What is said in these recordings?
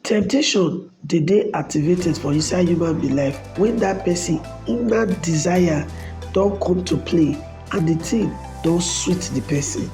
Temptation dey dey activated for inside human being life when that person inner desire don come to play and the thing don sweet the person.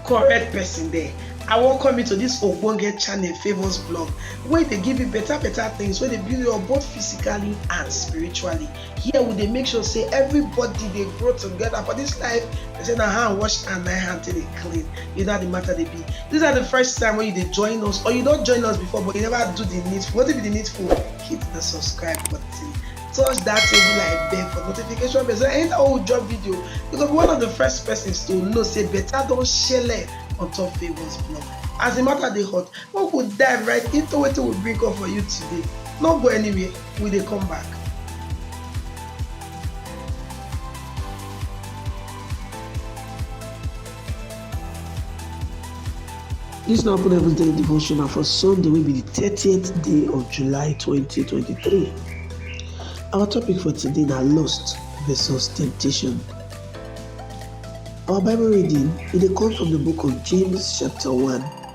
correct person there I welcome you to this ogbonge channel Favours Blog wey dey give you better better things wey dey build you up both physically and spiritually here we dey make sure say everybody dey grow together for this life they say na hand wash and na hand take dey clean you know how the matter dey be this na the first time wey you dey join us or you don join us before but you never do the needful wetin be the needful hit the subscribe button touch that table like bell for notification bell so anytime wey we drop video you go be one of the first persons to know say better don shele on top favours blog as the matter dey hot make we dive right into wetin we bring come for you today no go anywhere we dey come back. This na open heavens daily devotional for Sunday will be the thirtieth day of July twenty twenty three. Our topic for today na lust versus temptation. Our Bible reading it dey come from the book of James chapter one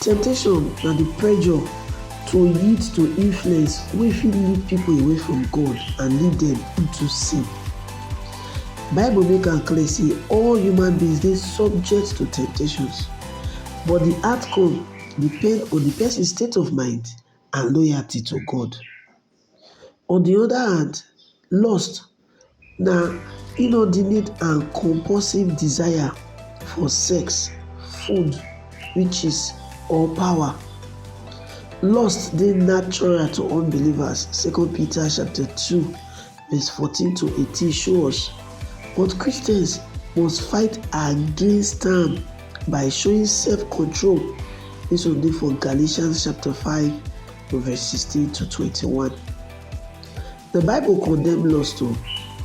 Temptation na di pressure to yield to influence wey fit lead pipo away from God and lead dem into sin. Bible make am clear sey all human beings dey subject to temptations but di outcome depend on di pesin state of mind and loyalty to God. On di oda hand, lust na inordinate and compulsive desire for sex, food, riches or power. Lust dey natural to unbelievers, Second Peter chapter two Verse 14 to 18 show us, but Christians must fight against am by showing self-control. This one dey for Galatians chapter 5 verse 16 to 21. The Bible condemn lust o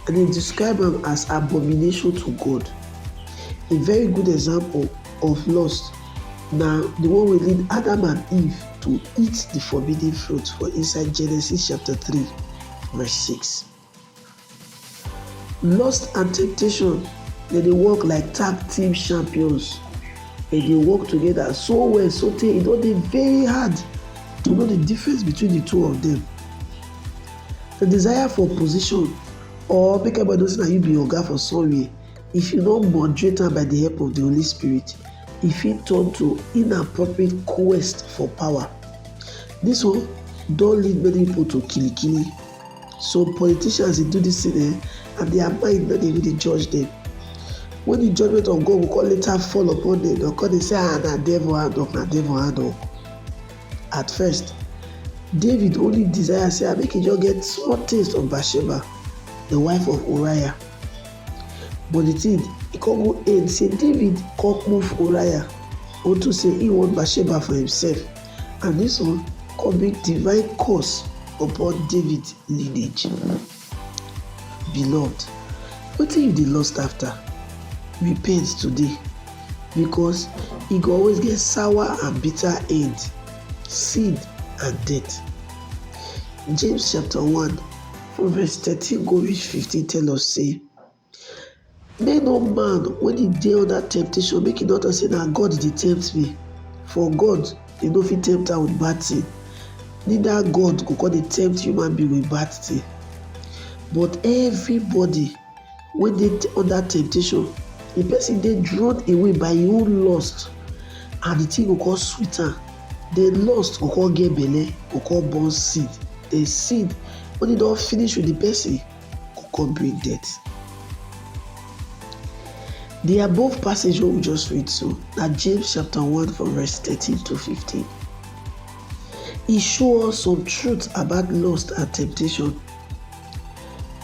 and e describe am as abomination to God. A very good example of lust na the one wey lead Adam and Eve to eat the forbidden fruit for inside Genesis chapter 3. Verse 6 Lust and temptation, they dey work like tag team champions. They dey work together so well, so tey e don dey very hard to know the difference between the two of them. The desire for position or make everybody know say na you be oga for somewhere If you no moderate am by di help of di Holy Spirit, e fit turn to inappropriate quest for power. Dis one don lead many pipo to kilikili. Some politicians dey do dis tin um and dia mind no dey even dey judge dem. Wen di judgement of God go come later fall upon dem, dem go come dey say um na devil hand um na devil hand um. At first, David only desire say make e just get small taste of Bathsheba, di wife of Uriah. But di tin e come go end say David come move Uriah unto say im want Bathsheba for imsef, and dis one come bring divine curse upon David lineage. Beloved, wetin you dey lust afta? Repent today, bicos e go always get sour and bitter end, sin and death. James chapter one. For verse thirteen go reach fifteen tell us say, Make no man when he dey under temptation make he not say na God dey tempt me, for God dey no fit tempt am with bad thing, neither God go come dey tempt human being with bad thing. But everybody wey dey under temptation, di person dey drawn away by im own lust and di thing go come sweet am, di lust go come get belle, e go come born seed, di seed wen e don finish with di person go come bring death. Di above passage wey we just read so na James chapter one from verse thirteen to fifteen, e show us some truth about lust and temptation.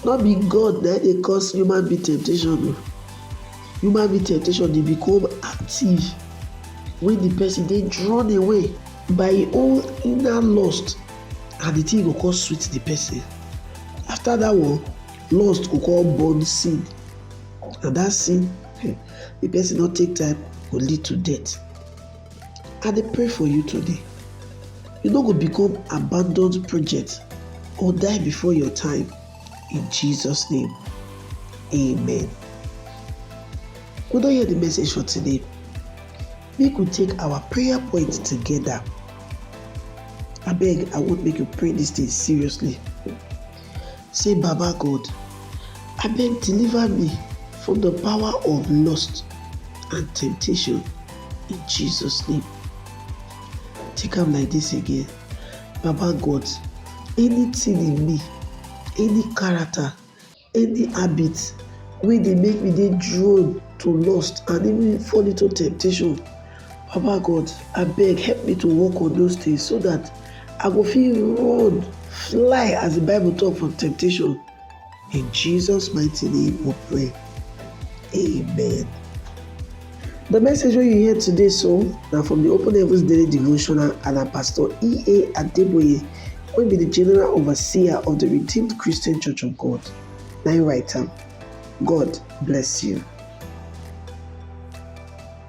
No be God na dey cause human being temptation o. Human being temptation dey become active when the person dey drawn away by im own inner lust and the thing go come sweet the person. After that one, lust go come born sin and that sin, if person no take time, go lead to death. I dey pray for you today. You no go become abandoned project or die before your time. In Jesus' name, amen. We don hear the message for today. Make we take our prayer point together. Abeg, I want make you pray this thing seriously. Say Baba God abeg deliver me from the power of lust and temptation in Jesus name. Take am like this again, Baba God anything in me, any character, any habit wey dey make me dey drawn to lust and even fall into temptation, Baba God, abeg help me to work on those things so that I go fit run, fly as the Bible talk from temptation. In Jesus' mighty name we pray. Amen. The message wey you hear today so na from the Open Heavens Daily Devotional and na Pastor E.A. Adeboye wey be the General Overseer of the Redeemed Christian Church of God na him write am. God bless you.